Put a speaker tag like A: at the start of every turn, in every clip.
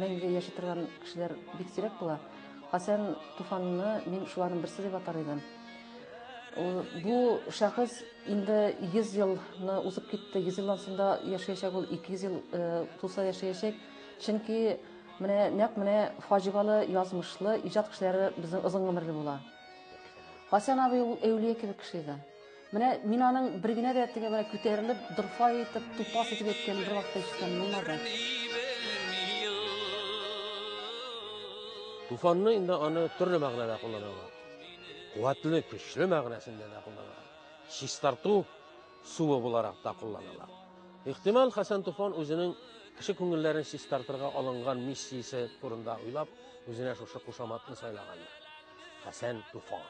A: Мәңге яши торган кешеләр бик сирәк була. Хәсән Туфанны мин шуларның берсе дип атар идем. Бу шәхес инде 100 елны узып китте. 100 елдан соң да яшәячәк ул, 200 ел э, туса яшәячәк. Чөнки менә нәкъ менә фаҗигалы, язмышлы иҗат кешеләре безнең озын гомерле була. Хәсән абый ул әүлия кебек кеше иде. Менә мин аның бер генә дә теге менә күтәрелеп, дырфай итеп, тупас итеп әйткәнен бер вакытта ишеткән булмады.
B: Туфанны инде аны төрле мәгънәдә кулланалар. Куәтле, көчле мәгънәсендә дә кулланалар. Чистарту суы буларак та кулланалар. Ихтимал, Хәсән Туфан үзенең кеше күңелләрен чистартырга алынган миссиясе турында уйлап, үзенә шушы кушаматны сайлагандыр. Хәсән Туфан.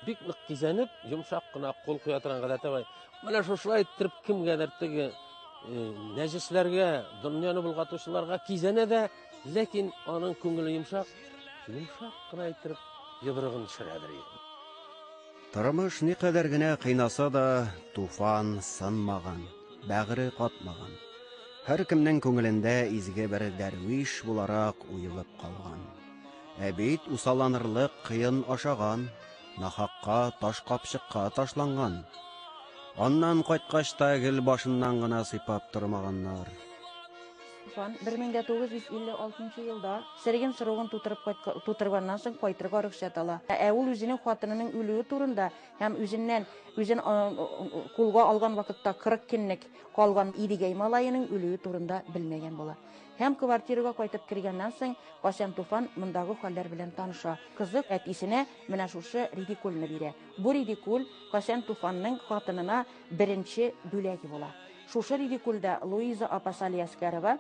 B: Бик нык кизәнеп, йомшак кына кул куя торган гадәте бар. Менә шушылай иттереп кемгәдер теге э, нәҗесләргә, дөньяны болгатучыларга кизәнә дә, ләкин аның күңеле йомшак, йомшак кына иттереп йодрыгын төшерәдер.
C: Тормыш никадәр генә кыйнаса да, Туфан сынмаган, бәгыре катмаган. Һәркемнең күңелендә изге бер дәрвиш буларак уелып калган. Ә бит усалланырлык кыен ашаган, нахакка таш капчыкка ташланган. Аннан кайткач та гел башыннан гына сыйпап тормаганнар.
A: Хан 1956 нчы елда Сырьин срогын тутырып кайткан, тутырганнан соң кайтырга рөхсәт ала. Ә ул үзенең хатынының үлүе турында һәм үзеннән, үзен кулга алган вакытта 40 көнлек калган Идегәй малаеның үлүе турында белмәгән була. Һәм квартирага кайтып кергәннән соң, кайчан Туфан мондагы хәлләр белән таныша. Кызык, әтисенә менә шушы редикульны бирә. Бу редикуль кайчан Туфанның хатынына беренче бүләге була. Шушы редикульдә Луиза апа Салиәскәрова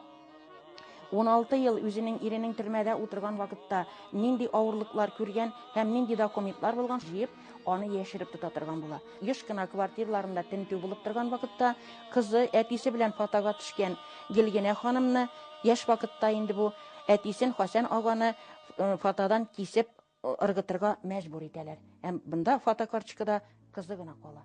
A: уналты ел үзенең иренең төрмәдә утырган вакытта нинди авырлыклар күргән һәм нинди документлар булган, җыеп, аны яшереп тота торган була. Еш кына квартирларында тентү булып торган вакытта кызы әтисе белән фотога төшкән Гелгенә ханымны яшь вакытта инде бу әтисен Хасән аганы э, фотодан кисеп э, ыргытырга мәҗбүр итәләр. Һәм бында фотокарточкада кызы гына кала.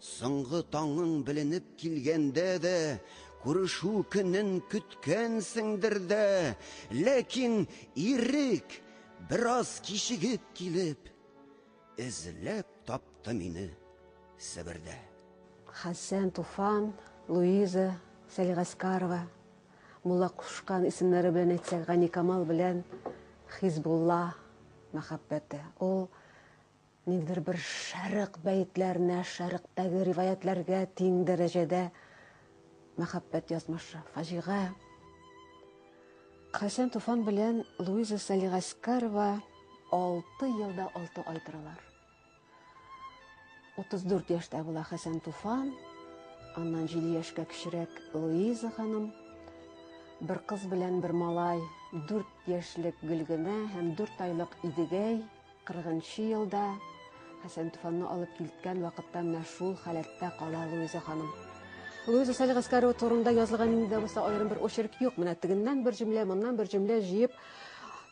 C: Соңгы таңың беленеп килгәндә дә, күрешү көнен көткәнсеңдер дә, ләкин ирек бераз кичегеп килеп, эзләп тапты мине Себердә.
D: Хәсән Туфан, Луиза Сәлигаскарова, Мулла Кушкан исемнәре белән әйтсәк, Ганикамал белән Хизбулла мәхәббәте. Ул Ниндидер бер шәрык бәетләренә, шәрыктәге риваятьләргә тиң дәрәҗәдә мәхәббәт язмышы, фаҗига. Хәсән Туфан белән Луиза Салигаскарова алты елда алты ай торалар. 34 яшьтә була Хәсән Туфан, аннан җиде яшькә кечерәк Луиза ханым, бер кыз белән бер малай, дүрт яшьлек Гөлгенә һәм дүрт айлык Идегәй, Кыргынчы елда Хәсән Туфанны алып килткән вакытта менә шул халәттә кала Луиза ханым. Луиза Салих Гаскарова турында язылган инде булса аерым бер очерк юк. Менә тегеннән бер җөмлә, моннан бер җөмлә җыеп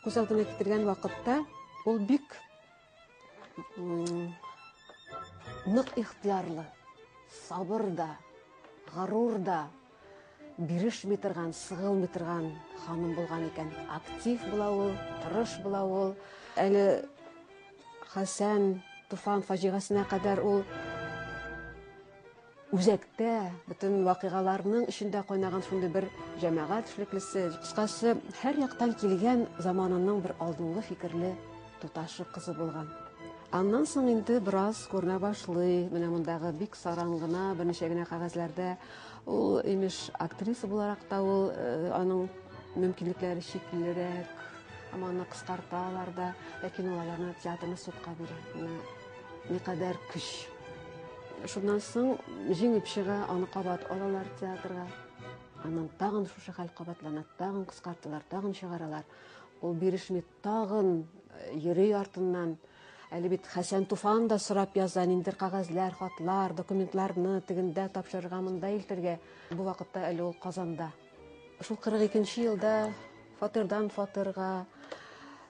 D: күз алдына китергән вакытта ул бик нык ихтиярлы, сабыр да, горур да, Бирешми торган, сыгылмый торган ханым булган икән. Актив була ул, тырыш була ул. Әле Хәсән Туфан фаҗигасенә кадәр ул үзәктә бөтен вакыйгаларның эчендә кайнаган шундый бер җәмәгать эшлеклесе. Кыскасы, һәр яктан килгән заманының бер алдынгы фикерле туташы кызы булган. Аннан соң инде бераз күренә башлый. Менә мондагы бик саран гына, берничә генә кәгазьләрдә Ул, имеш, актриса буларак та ул э, аның мөмкинлекләре чиклерәк, һәм аны кыскарталар да, ләкин ул аларны театрны судка бирә. Никадәр көч. Шуннан соң җиңеп чыга, аны кабат алалар театрга. Аннан тагын шушы хәл кабатлана, тагын кыскарталар, тагын чыгаралар. Ул бирешми Тагын йөри артыннан. Әле бит Хәсән Туфан да сорап яза, ниндер кагазьләр, хатлар, документларны тегендә тапшырырга, монда илтергә. Бу вакытта әле ул Казанда. Шул 42 елда фатирдан фатирга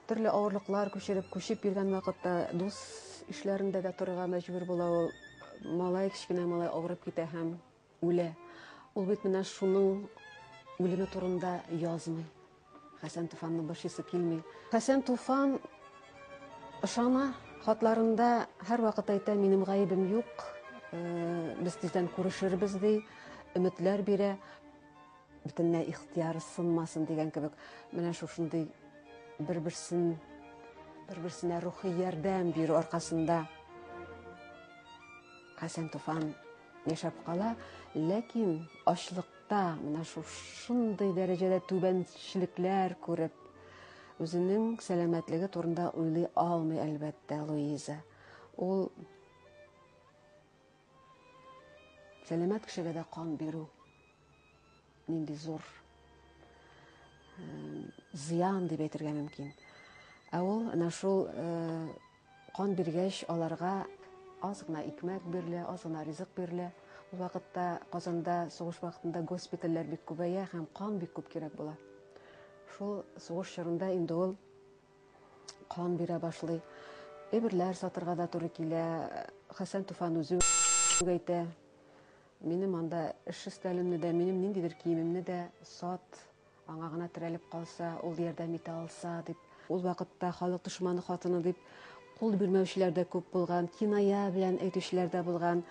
D: төрле авырлыклар күчереп, күчеп йөргән вакытта дус ишләрендә дә торырга мәҗбүр була ул. Малай, кечкенә малай авырып китә һәм Үлә. Ул бит менә шуның үлеме турында язмый. Хәсән Туфанны борчысы килми. Хәсән Туфан ышана, хатларында һәрвакыт әйтә, минем гаебем юк, э, без тиздән күрешербез ди, өметләр бирә. Бөтенләй ихтияры сынмасын дигән кебек, менә шушындый бер-берсен бер-берсенә рухи ярдәм бирү аркасында Хәсән Туфан Яшәп кала, ләкин ачлыкта, менә шушындый дәрәҗәдә түбәнчелекләр күреп, үзенең сәламәтлеге турында уйлый алмый, әлбәттә, Луиза. Ул сәламәт кешегә дә кан бирү Нинди зур зыян дип әйтергә мөмкин. Ә ул менә шул кан биргәч, аларга аз гына икмәк бирелә, аз гына ризык бирелә. Ул вакытта Казанда сугыш вакытында госпитальләр бик күбәя һәм кан бик күп кирәк була. Шул сугыш чорында инде ул кан бирә башлый. Әйберләр сатырга да туры килә. Хәсән Туфан үзе әйтә. Минем анда эш өстәлемне дә, минем ниндидер киемемне дә сат, аңа гына терәлеп калса, ул ярдәм итә алса, дип. Ул вакытта халык дошманы хатыны дип кул бирмәүчеләр дә күп булган, киная белән әйтүчеләр дә булган.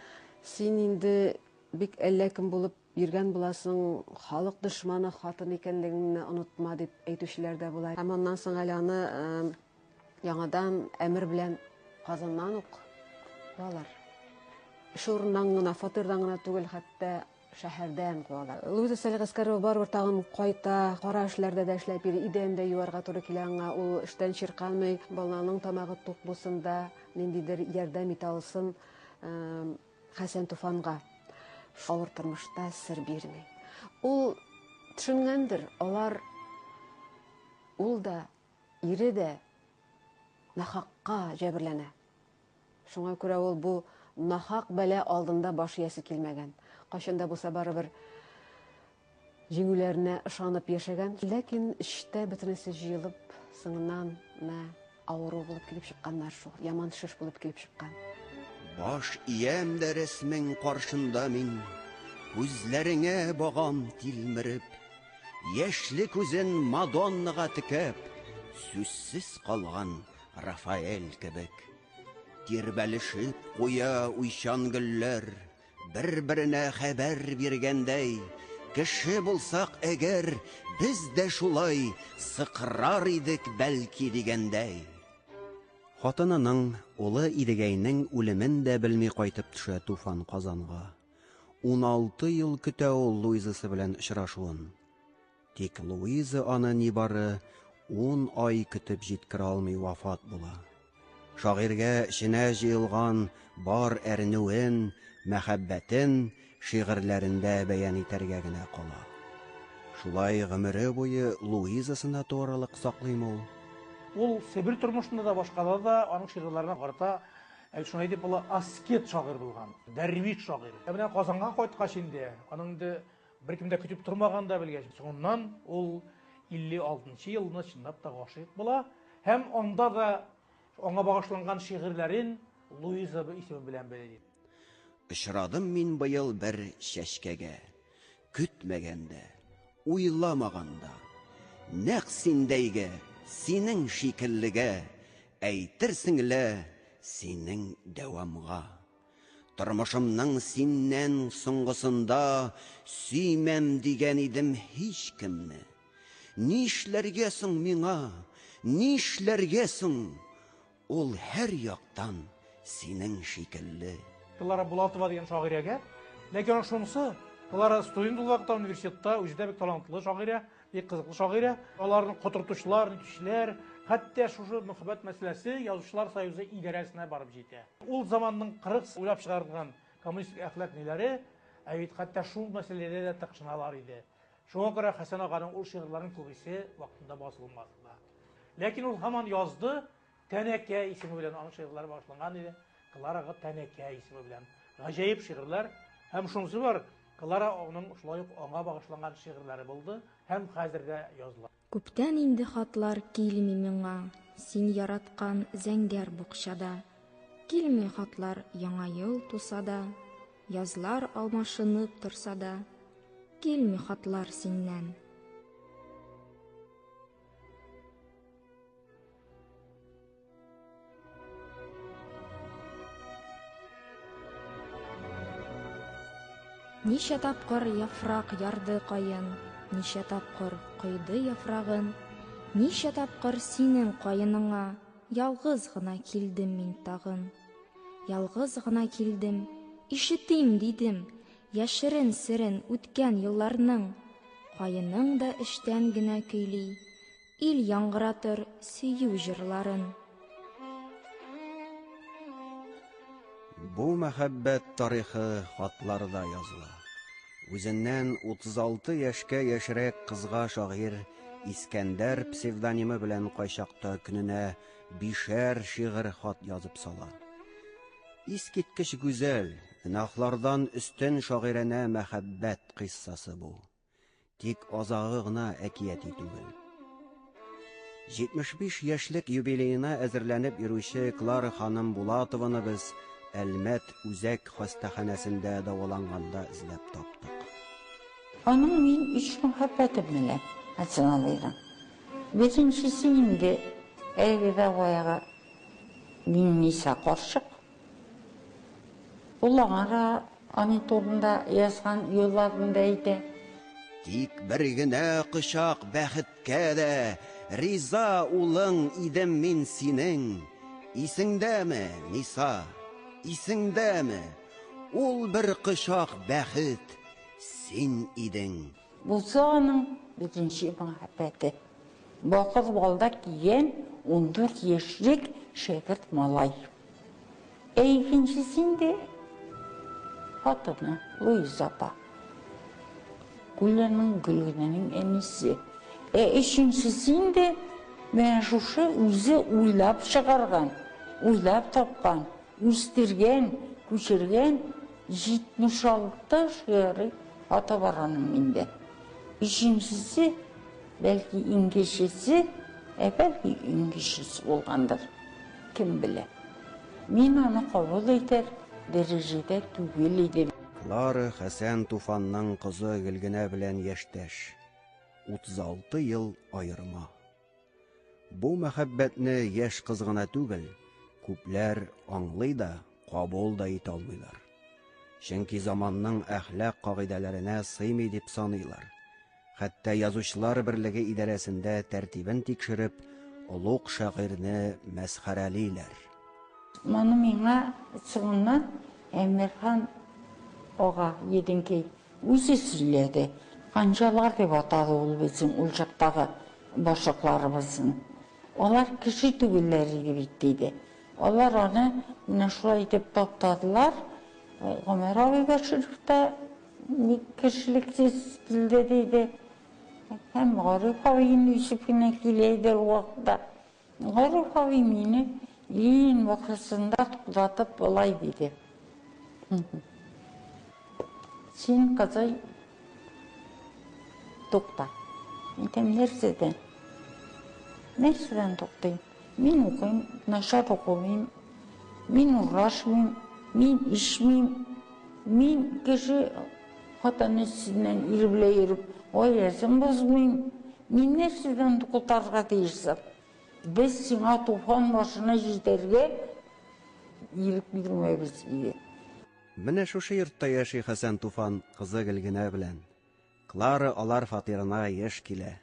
D: Син инде бик әллә кем булып йөргән буласың, халык дошманы хатыны икәнлегеңне онытма, дип әйтүчеләр дә була. Һәм аннан соң әле аны Яңадан әмер белән Казаннан ук куалар. Эш урыннан гына, фатирдан гына түгел, хәтта шәһәрдән куалар. Луиза Сәлгәскәрова барыбер тагын кайта, кара эшләрдә дә эшләп йөри, идән дә юарга туры килә аңа. Ул эштән чирканмый, баланың тамагы тук булсын да, ниндидер ярдәм итә алсын Хәсән Туфанга. Авыр тормышта сер бирми. Ул төшенгәндер, алар ул да, Ире дә нахакка җәберләнә. Шуңа күрә ул бу нахак бәла алдында баш иясе килмәгән. Кайчан да булса барыбер җиңүләренә ышанып яшәгән. Ләкин эчтә бөтенесе җыелып, соңыннан менә авыру булып килеп чыкканнар шул. Яман шеш булып килеп чыккан. Баш
C: иям дә рәсмең каршында мин, күзләреңә багам тилмереп. Яшьле күзен Мадоннага текәп, сүзсез калган Рафаэль кебек. Тирбәлешеп куя уйчан гөлләр, бер-беренә хәбәр биргәндәй, Кеше булсак әгәр, без дә шулай сыкрар идек, бәлки, дигәндәй. Хатынының, улы Идегәйнең үлемен дә белми кайтып төшә Туфан Казанга. Уналты ел көтә ул Луизасы белән очрашуын. Тик Луиза аны нибары ун ай көтеп җиткерә алмый вафат була. Шагыйрьгә эченә җыелган бар әрнүен, мәхәббәтен шигырьләрендә бәян итәргә генә кала. Шулай гомере буе Луизасына тугрылык саклыймы ул? Ул Себер
E: тормышында да, башкада да аның шигырьләренә карата Әйт, шулай дип ул аскет шагыйрь булган, дәрвиш шагыйрь. Ә менә Казанга кайткач инде, аның инде беркем дә көтеп тормаган да белгәч, соңыннан ул 56 елны чынлап та гашыйк була һәм анда да аңа багышланган шигырьләрен Луиза исеме белән бәяли. Очрадым
C: мин быел бер чәчкәгә. Көтмәгәндә, уйламаганда, Нәкъ синдәйгә, синең шикеллегә, Әйтерсең лә синең дәвамга. Тормышымның синнән соңгысында Сөймәм дигән идем һичкемне. Нишләргә соң миңа, нишләргә соң? Ул һәр яктан синең шикелле. Дилара Булатова
E: дигән шагыйрәгә. Ләкин аның шунысы, Дилара студент булган вакытта университетта үзе дә бик талантлы шагыйрә, бик кызыклы шагыйрә. Аларны котыртучылар, нитүчеләр, хәтта шушы мөхәббәт мәсьәләсе Язучылар союзы идарәсенә барып җитә. Ул заманның кырыс уйлап чыгарылган коммунистик әхлак ниләре, ә бит хәтта шул мәсьәләдә дә тыкшыналар иде. Шуңа күрә Хәсән аганың ул шигырьләренең күбесе вакытында басылмады да. Ләкин ул һаман язды, Тәнәкә исеме белән аның шигырьләре башланган иде. Клара ага Тәнәкә исеме белән гаҗәеп шигырьләр һәм шунысы бар, Клара аның шулай ук аңа багышланган шигырьләре булды һәм хәзер дә языла. Күптән инде
F: хатлар килми миңа, Син яраткан зәңгәр букчада. Килми хатлар яңа ел туса да, Язлар алмашынып торса да, Килми хатлар синнән. Ничә тапкыр яфрак ярды каен, ничә тапкыр койды яфрагын, ничә тапкыр синең каеныңа ялгыз гына килдем мин тагын. Ялгыз гына килдем, ишетим дидем, яшерен серен үткән елларның. Каеның да эчтән генә көйли, Ил яңгыратыр сөю җырларын.
C: Бу мәхәббәт тарихы хатларда языла. Үзеннән 36 яшькә яшьрәк кызга шагыйрь Искәндәр псевдонимы белән кайчакта көненә бишәр шигырь хат язып сала. Искиткеч гүзәл, гөнаһлардан өстен шагыйрәнә мәхәббәт кыйссасы бу. Тик азагы гына әкияти түгел. 75 яшьлек юбилеена әзерләнеп йөрүче Клара ханым Булатованы без Әлмәт үзәк хастаханәсендә дәваланганда эзләп таптык. Аның
A: мин өч мәхәббәтем менә, Аценалыйга. Беренчесе инде әлеге дәгъвага Миңниса карчык, Ул аңа да аның турында язган юлларын да әйтә. Тик
C: бер генә кочак бәхеткә дә Риза улың идем мин синең. Исеңдәме, Ниса, исеңдәме? Ул бер кочак бәхет син идең. Булса аның
A: беренче мәхәббәте. Бакыр балда кигән ундүрт яшьлек шәкерт малай. Ә икенчесе инде хатыны Луиза апа. Гүләнең Гөлгенәнең әнисе. Ә өченчесе инде менә шушы үзе уйлап чыгарган, уйлап тапкан, үстергән, күчергән 76 шигъри ата барганым инде. Өченчесе, бәлки, иңгечесе, ә бәлки, иңгечесе булгандыр. Кем белә. Мин аны кабул итәр дәрәҗәдә түгел идем. Клара Хәсән
C: Туфанның кызы Гөлгенә белән яшьтәш. 36 ел аерма. Бу мәхәббәтне яшь кыз гына түгел, күпләр аңлый да, кабул да итә алмыйлар. Чөнки заманның әхлак кагыйдәләренә сыймый дип саныйлар. Хәтта язучылар берлеге идарәсендә тәртибен тикшереп, олуг шагыйрьне мәсхәрәлиләр.
A: Моны миңа соңыннан Әмирхан ага Единкий Үзе сөйләде, ханжалар дип атады ул безнең ул чактагы башлыкларыбызны. Алар кеше түгелләр иде бит, диде. Алар аны менә шулай итеп таптадылар. Гомәр абый Бәширов та ник кешелексез килде, диде. Һәм Гариф абыем Йосыф кенә килә иде ул вакытта. Горур абый мине иң мохлисында туктатып болай диде. Син, кызый, тукта. Әйтәм, нәрсәдән? Нәрсәдән туктыйм? Мин укыйм, начар укымыйм, мин урашмыйм, мин ишмим, мин кеше Хатын өстеннән ир белән йөреп, гаиләсен бозмыйм. Мин нәрсәдән котарга тиеш соң? Без сиңа туфан башына җитәргә ирек бирмәбез, диде. Менә
C: шушы йортта яши Хәсән туфан кызы Гөлгенә белән. Клара алар фатирына еш килә.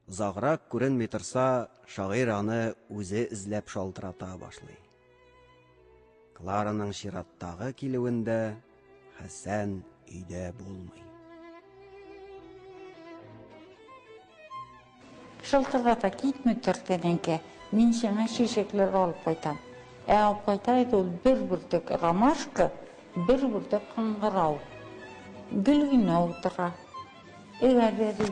C: Озаграк күренми торса, шагыйрь аны үзе эзләп шалтырата башлый. Клараның чираттагы килүендә Хәсән өйдә булмый.
A: Шылтырлата китми тор, тәнәкә, мин сиңа чәчәкләр алып кайтам. Ә алып кайта иде ул бер бөртек ромашка, бер бөртек кыңгырау. Гөлгенә утыра. Эйгә дә ди,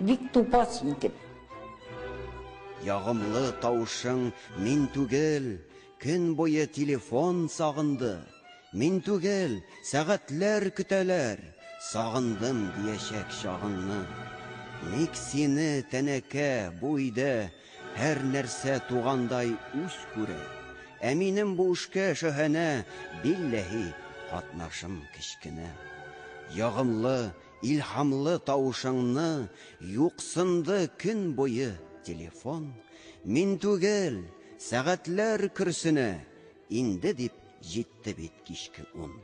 A: Бик тупа син дип. Ягымлы
C: тавышың мин түгел, көн буе телефон сагынды, мин түгел, сәгатьләр көтәләр, сагындым диячәк чагыңны. Ник сине тәнәкә бу өйдә һәр нәрсә тугандай үз күрә, ә минем бу эшкә шаһанә билләһи катнашым кечкенә. Ягымлы Илһамлы тавышыңны юксынды көн буе телефон, мин түгел, сәгатьләр көрсенә, инде дип җитте бит кичке ун.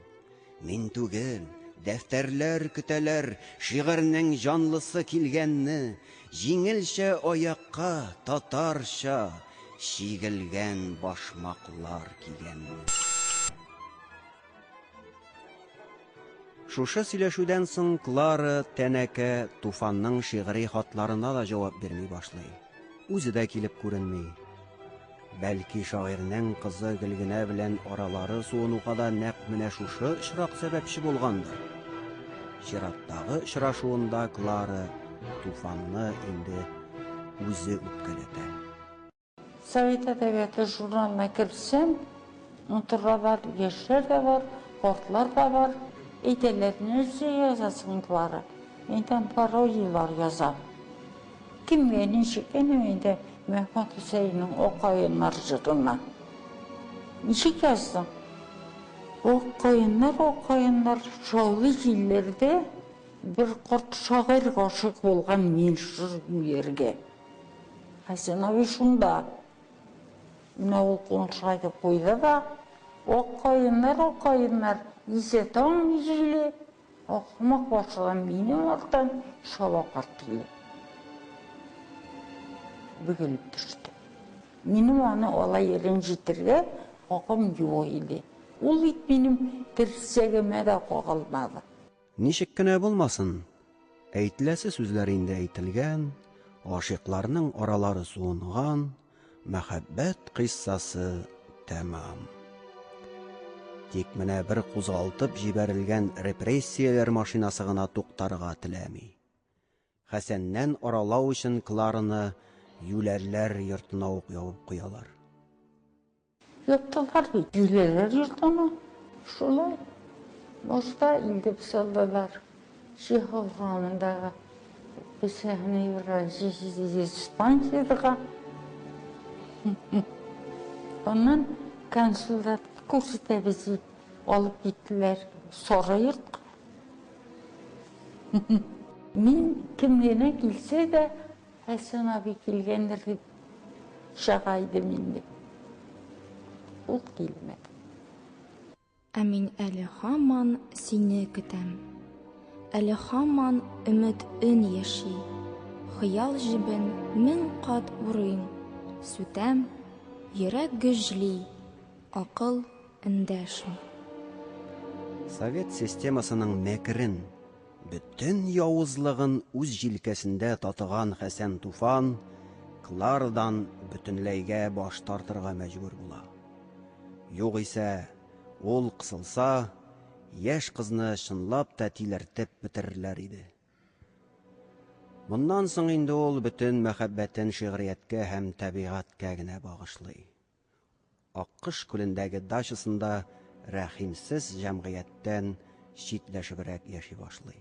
C: Мин түгел, дәфтәрләр көтәләр шигырьнең җанлысы килгәнне, җиңелчә аякка татарча чигелгән башмаклар кигәнне. Шушы сөйләшүдән соң Клара тәнәкә Туфанның шигъри хатларына да җавап бирми башлый. Үзе дә килеп күренми. Бәлки шагыйрьнең кызы Гөлгенә белән аралары суынуга да нәкъ менә шушы очрак сәбәпче булгандыр. Чираттагы очрашуында Клара Туфанны инде үзе үпкәләтә.
A: Совет әдәбияты журналына керсәм, Унтырда бар, яшьләр дә бар, картлар да бар. Әйтәләр, нәрсә язасың бары? Мин там пародияләр язам. Кемгә ничек, әнә инде Мәхмүт Хөсәеннең Акаеннар җырына. Ничек яздым? Акаеннар, акаеннар, шаулый җилләрдә, Бер карт шагыйрь гашыйк булган мин жыр юләргә. Хәсәнәви шунда. Менә ул куншай дип куйды да, Ак каеннар, ак каеннар, Исә таң җиле, Ахмак башыдан минем арттан Шаба карт киле. Бөгелеп төште. Минем аны алай рәнҗетергә хакым юк иде. Ул бит минем терсәгемә дә кагылмады. Ничек кенә
C: булмасын, әйтеләсе сүзләр инде әйтелгән, гашыйкларның аралары суынган, мәхәббәт кыйссасы тәмам. Тик менә бер кузгалтып җибәрелгән репрессияләр машинасы гына туктарга теләми. Хәсәннән аралау өчен Клараны юләрләр йортына ук ябып куялар. Яттылар
A: бит, җүләрләр йортына. Шулай башта инде пысалдылар. Җиһалга мондагы психоневра диспансерга. Аннан консулда күрсәтәбез дип алып киттеләр сары йортка. Мин кем генә килсә дә, Хәсән абый килгәндер дип чага идем инде. Ул килмәде.
F: Ә мин әле һаман сине көтәм. Әле һаман өмет өн яши. Хыял җебен мең кат урыйм, сүтәм, йөрәк гөжли, акыл эндәшми.
C: Совет системасының мәкерен Бөтен явызлыгын үз җилкәсендә татыган Хәсән Туфан Кларадан бөтенләйгә баш тартырга мәҗбүр була. Югыйсә, ул кысылса, яшь кызны чынлап та тилертеп бетерерләр иде. Моннан соң инде ул бөтен мәхәббәтен шигърияткә һәм табигатькә генә багышлый. Аккош күлендәге дачасында рәхимсез җәмгыятьтән читләшебрәк яши башлый.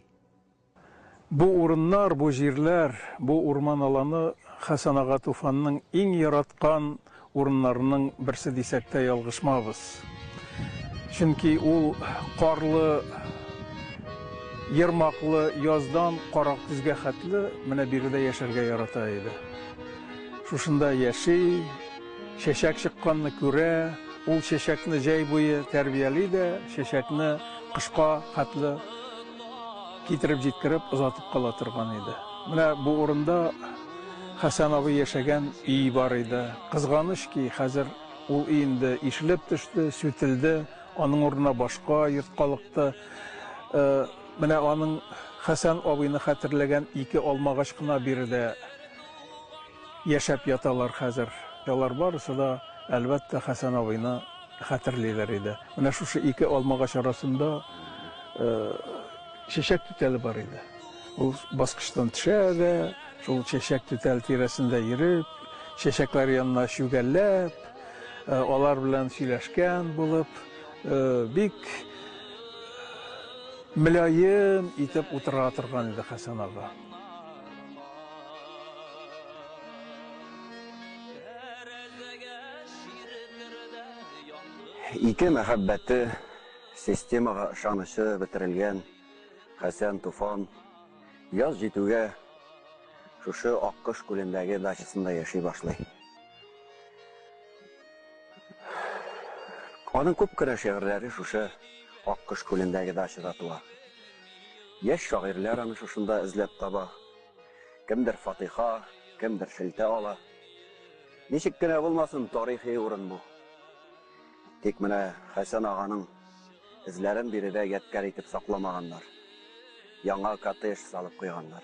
G: Бу урыннар, бу җирләр, бу урман аланы Хәсән ага Туфанның иң яраткан урыннарының берсе дисәк тә ялгышмабыз. Чөнки ул карлы, ермаклы яздан каракөзгә хәтле менә биредә яшәргә ярата иде. Шушында яши. Чәчәк чыкканны күрә, ул чәчәкне җәй буе тәрбияли дә, чәчәкне кышка хәтле китереп җиткереп, озатып кала торган иде. Менә бу урында Хәсән абый яшәгән өй бар иде. Кызганыч ки, хәзер ул өй инде ишелеп төште, сүтелде, аның урынына башка йорт калыкты. Менә аның Хәсән абыйны хәтерләгән ике алмагач кына биредә Яшәп яталар хәзер. Алар барысы да, әлбәттә, Хәсән абыйны хәтерлиләр иде. Менә шушы ике алмагач арасында чәчәк түтәле бар иде. Ул баскычтан төшә дә, шул чәчәк түтәле тирәсендә йөреп, чәчәкләр янына чүгәлләп, алар белән сөйләшкән булып, бик мөлаем итеп утыра торган иде Хәсән ага.
C: Ике мәхәббәте, системага ышанычы бетерелгән Хәсән Туфан яз җитүгә шушы Аккош күлендәге дачасында яши башлый. Аның күп кенә шигырьләре шушы Аккош күлендәге дачада туа. Яшь шагыйрьләр аны шушында эзләп таба. Кемдер фатыйха, кемдер шелтә ала. Ничек кенә булмасын, тарихи урын бу. Тик менә Хәсән аганың эзләрен биредә ядкарь итеп сакламаганнар. Яңа коттедж салып куйганнар.